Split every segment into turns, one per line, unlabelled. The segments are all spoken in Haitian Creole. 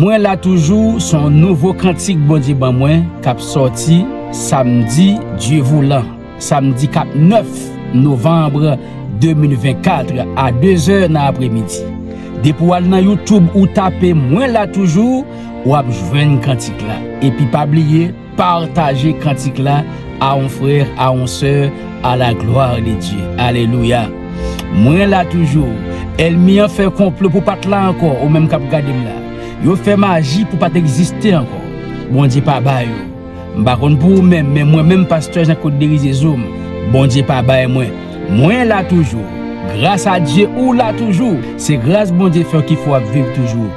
Mwen la toujou son nouvo kantik Bondye ban mwen kap sòti samdi Dieuvoulant samdi kap 9 novembre 2024 a 2 zè nan apre midi depi w al nan youtube ou tape mwen la toujou wap jwenn kantik la epi pa bliye Partager kantik la a on frère a on soeur a la gloire de Dieu alelouya mwen la toujou èlmi an fè konplo pou pat la ankò ou menm kap gadem la yo fè maji pou pat egziste ankò Bondye pa ba yo m pa konn pou ou menm men mwen menm pastè Jean Claude Berizeau m Bondye pa bay mwen Mwen la toujou Gras a Dye ou la toujou Se gras Bondye fèw ki fè wap viv toujou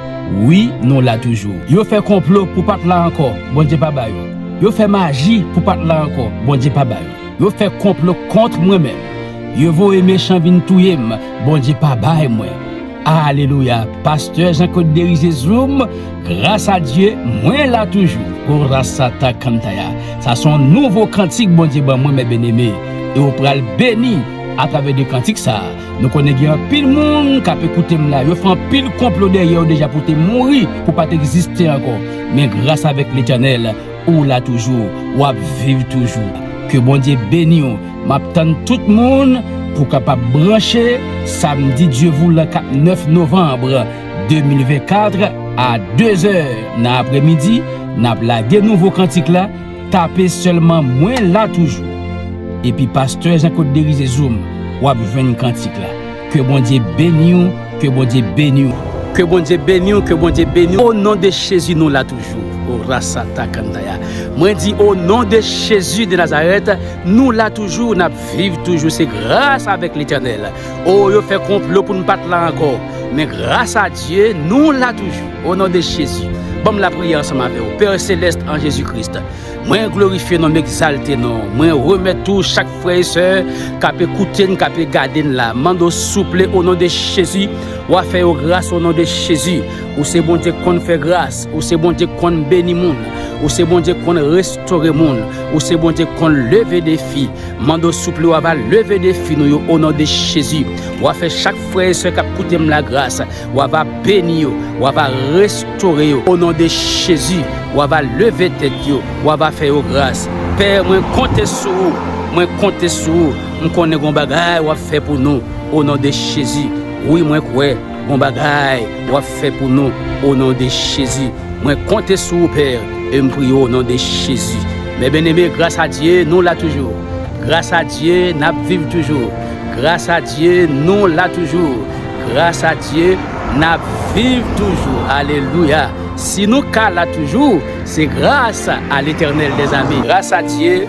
Wi nou la toujou Yo fè konplo pou pat la ankò Bondye pa ba yo Yo fè maji pou pat la ankò Bondye pa ba yo Yo fè konplo kontr mwen menm Yo voye mechan vin touyem Bondye pa bay mwen. Alelouya pastè jean claude derize zoom gras a Dye mwen la toujou oh rasata cantaya sa son nouvo kantik Bondye ban mwen mè byeneme e ou pral beni a travè de kantik sa nou konnen gen anpil moun kap ekoutem la yo fè anpil konplo dèyèw deja pou te mouri pou pat egziste ankò men gras avèk letènèl Ou la toujou wap viv toujou ke bondye beniw map tann tout moun pou kapab branche samdi dieuvoulant kap 9 novembre 2024 a 2 zè nan apre midi nap lage nouvo kantik la tape selman mwen la toujou epi pastè jean code derize zoom wap jwenn kantik la. Ke bondye beniw ke bondye beniw. Ke bondye beniw ke bondye beniw o non de jezi nou la toujou o rasata kandaya mwen di o non de jezi de nazarèt nou la toujou nap viv toujou se gras avèk letènèl o yo fè konplo poun pat la ankò men gras a dye nou la toujou o non de jezi banm lapriyè ansanm avèw pè selèst an jezi kris. Mwen glorifye non, m egzalte non, mwen remèt tou chak frè e sè kape koute n, kape gade n la, mande w souple o non de Jezi wa fè yo gras o non de Jezi, ou se Bondye k konn fè gras, ou se Bondye k konn beni moun, ou se Bondye k konn restore moun, ou se Bondye k konn leve defi, mande w souple wa va leve defi nou yo o non de Jezi, wa fè chak frè e sè kap koute m la gras. Wa va beni yo, Wa va restore yo o non de Jezi, Wa va leve tèt yo, Wa va fè yo gras. Pè mwen konte sou ou, mwen konte sou ou, m konnen gon bagay wap fè pou nou o non de Jezi, wi mwen kwè gon bagay wap fè pou nou o non de Jezi, mwen konte sou ou Pè e m priye w o non de Jezi. Mè byeneme gras a Dye nou la toujou, gras a Dye nap viv toujou. Gras a Dye nou la toujou. Gras a Dye nap viv toujou alelouya si nou ka la toujou se gras a letènèl mezanmi. Gras a Dye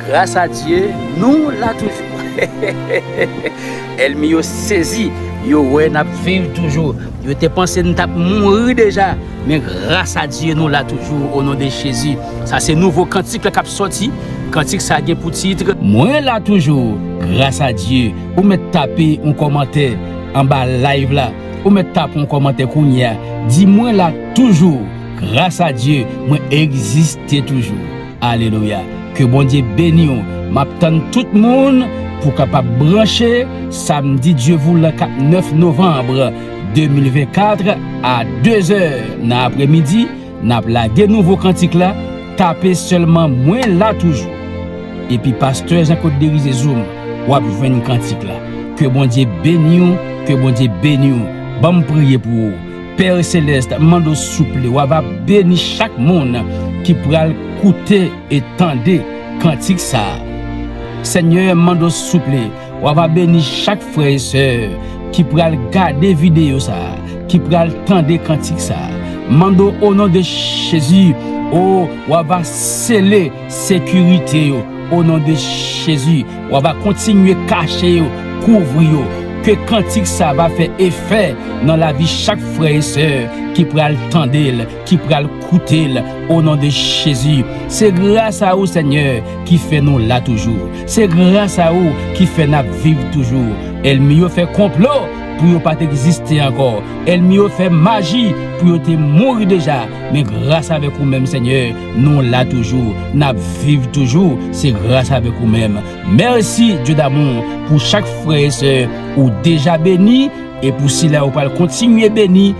gras a Dye nou la toujou hehehehe èlmi yo sezi yo wè nap viv toujou yo te panse nou tap mouri deja. Men gras a Dye nou la toujou o non de Jezi. Sa se nouvo kantik la kap soti, kantik sa gen pou titre. Mwen la toujou gras a Dye. Ou mèt tape yon kòmantè anba live la, ou mèt tape yon kòmantè kounye a, di mwen la toujou gras a Dye mwen egziste toujou. Alelouya ke Bondye beniw map tann tout moun pou kapab branche samdi Dye voulan kap 9 novanbre. 2024 a 2 zè nan apre midi nap lage nouvo kantik la tape selman mwen la toujou epi pastè jean claude derize zoom wap jwenn kantik la ke bondye beniw ke bondye beniw banm priye pou ou père celeste mando souple wa va beni chak moun ki pral koute e tande kantik sa senyè mando souple. Wa va beni chak frè e sè ki pral gade video sa, ki pral tande kantik sa. Mande w o non de Jezi o wa va sele sekirite yo o non de Jezi. Wa va kontinye kache yo, kouvri yo. Ke kantik sa va fè efè nan lavi chak frè e sè ki pral tande l. ki pral koutel o non de jezi se gras a ou senyè ki fè nou la toujou se gras a ou ki fè nap viv toujou èlmi yo fè konplo pou yo pat egziste ankò èlmi yo fè maji pou yo te mouri deja men gras avèk ou menm senyè nou la toujou nap viv toujou se gras avèk ou menm mèsi Dye damou pou chak frè e sè ou deja beni e pou sila ou pral kontinye beni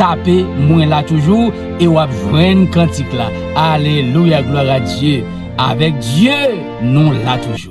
Tape mwen la toujou e wap jwenn kantik la alelouya glwa a Dye avèk Dye nou la toujou.